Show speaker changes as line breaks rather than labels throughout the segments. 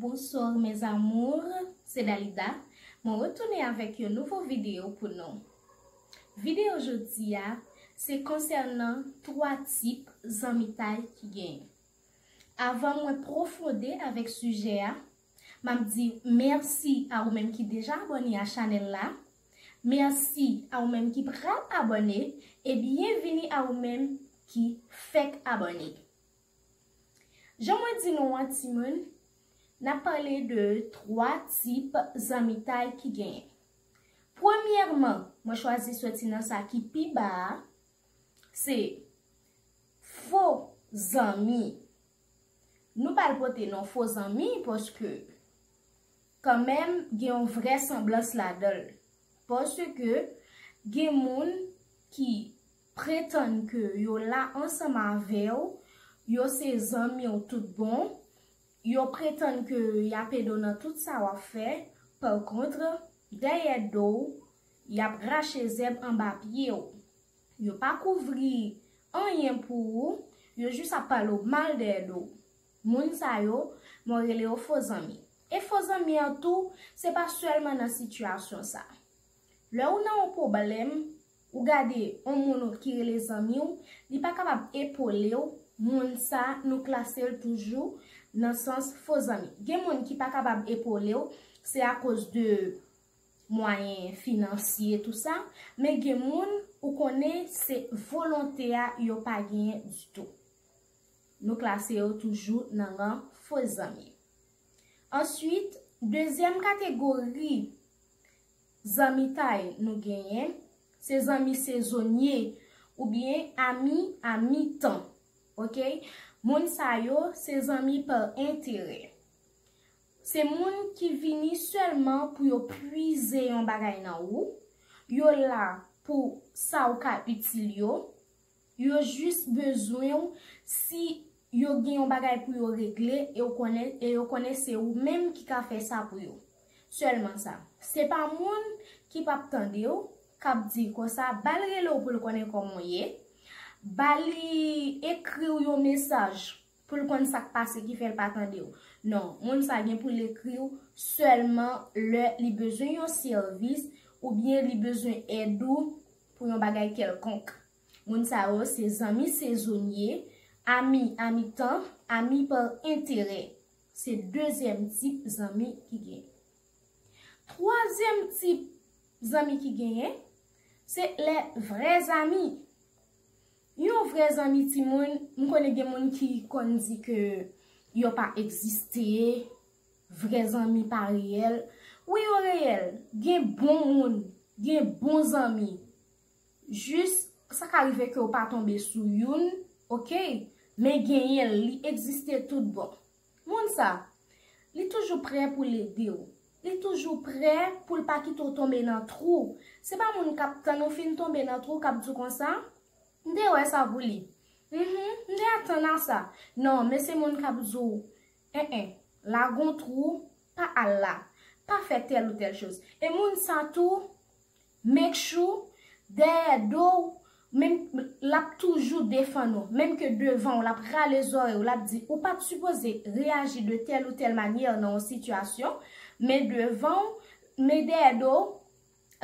Bonsoir mes amours se Dalida mwen retounen avèk yon nouvo video pou nou video jodia se konsènan 3 tip zanmitay ki genyen avan mwen profonde avèk sijè a map di mèsi a ou menm ki deja abòne a chanèl la mèsi a ou menm ki pral abòne e byenvini a ou menm ki fèk abòne Jan mwen di nou an timoun, n ap pale de 3 tip zanmitay ki genyen. Premyèman, mwen chwazi soti nan sa ki pi ba a, se fo zanmi. Nou pa al pote non fo zanmi paske kanmenm gen yon vrè sanblans ladan l. Paske gen moun ki pretann ke yo la ansanm avè w, yo se zanmi w tout bon, yo pretann ke y ap ede w nan tout sa w ap fè, pa kontre, dèyè do w, y ap rache zèb anba pye w. Yo pa kouvri anyen pou ou, yo jis ap pale w mal dèyè do w. Moun sa yo, mwen rele yo fo zanmi. E fo zanmi an tou, se pa sèlman nan sitiyasyon sa. Lè ou nan yon pwoblèm. Ou gade on moun ou ki rele zanmi w, li pa kapab epole w, moun sa nou klase l toujou nan sans fo zanmi. Gen moun ki pa kapab epole w, se akoz de mwayen finansye tou sa, men gen moun ou konnen se volonte a yo pa genyen ditou. Nou klase yo toujou nan ran fo zanmi. Answit, dezyèm kategori Zanmitay nou genyen, se zanmi sezonye oubyen ami a mi tan. Ok. Moun sa yo se zanmi par enterè. Se moun ki vini sèlman pou yo pwize yon bagay nan ou, yo la pou sa ou ka itil yo, Yo jis bezwen w si yo gen yon bagay pou yo regle e w konnen e yo konnen se ou menm ki ka fè sa pou yo. Sèlman sa. Se pa moun ki pap tande w, k ap di l konsa, ba l rele w pou l konnen kòman w ye, ba li ekri w yon mesaj pou l konn sa k pase ki fè l pa tande w. Non, moun sa gen pou l ekri w sèlman lè li bezwen yon sèvis oubyen li bezwen èd ou Pou yon bagay kèlkonk. Moun sa yo se zanmi sezonye, ami amitan, ami par enterè. Se dezyèm tip zanmi ki genyen. Twazyèm tip zanmi ki genyen, se lè vrè zanmi. Yon vrè zanmi timoun, m konnen gen moun ki konn di ke yo pa egziste, Vrè zanmi pa reyèl. Wi yo reyèl. Gen bon moun. Gen bon zanmi. Jis, sa ka rive ke ou pa tonbe sou youn. Ok. Men genyen l. Li egziste tout bon. Moun sa. Li toujou prè pou l ede ou. Li toujou prè pou l pa kite ou tonbe nan twou. Se pa moun k ap tann ou fin tonbe nan twou k ap di w konsa, M te wè sa pou li. Mh, m te atann a sa. Non, men se moun k ap di w, Eh eh la gon trou pa al la pa fè tèl ou tèl choz e moun sa tou make sure dèyè do w menm lap toujou defann ou menm ke devan w lap rale zòrèy w lap di ou pat sipoze reyaji de tèl ou tèl manyè nan yon sitiyasyon men devan w men dèyè do w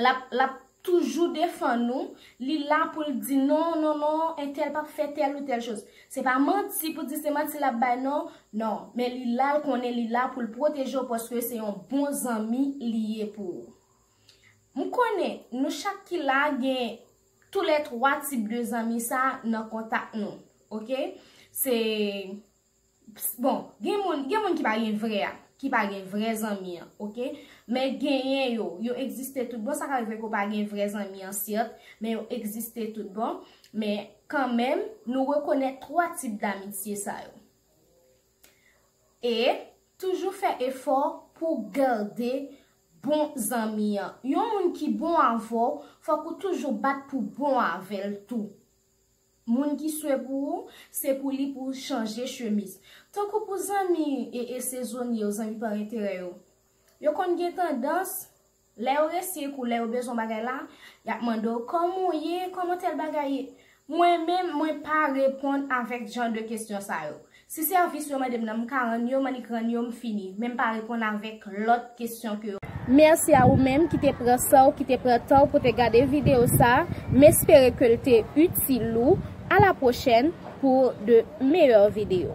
Lap lap toujou defann ou, li la poul di non non non entèl pap fè tèl ou tèl choz. Se pa manti pou di se manti lap bay non, non, men li la l konnen li la poul pwoteje w paske se yon bon zanmi li ye pou ou. M konnen nou chak ki la gen tou lè 3 tip de zanmi sa nan kontak nou, ok, se. Bon, gen moun, gen moun ki pa gen vrè a, ki pa gen vrè zanmi an, ok? Men genyen yo, yo egziste tout bon, sa ka rive ke w pa gen vrè zanmi an sèt, men yo egziste tout bon, men kan menm, nou rekonèt 3 tip damitye sa yo. E, toujou fè efò pou gade bon zanmi an. Yon moun ki bon avè w, fòk ou toujou bat pou bon avè l tou. Moun ki swe pou ou, se pou li pou chanje chemiz. Tankou pou zanmi e e sezonye yo, zanmi pa enterè yo. Yo konn gen tandans, lè yo resi ekou lè yo bezwen bagay la, y ap mande w kòman ou ye, kòman tèl bagay ye. Mwen menm, mwen pa reponn avèk jan de kesyon sa yo. Si sèvis yo mandem nan m ka rann yo m annik rann yo m fini men m pa reponn avèk lòt kesyon ke yo. Mèsi a ou menm ki te pran san w ki te pran tan w pou te gade video sa a, m espere ke l te itil ou, a la pwochèn pou de meyè video.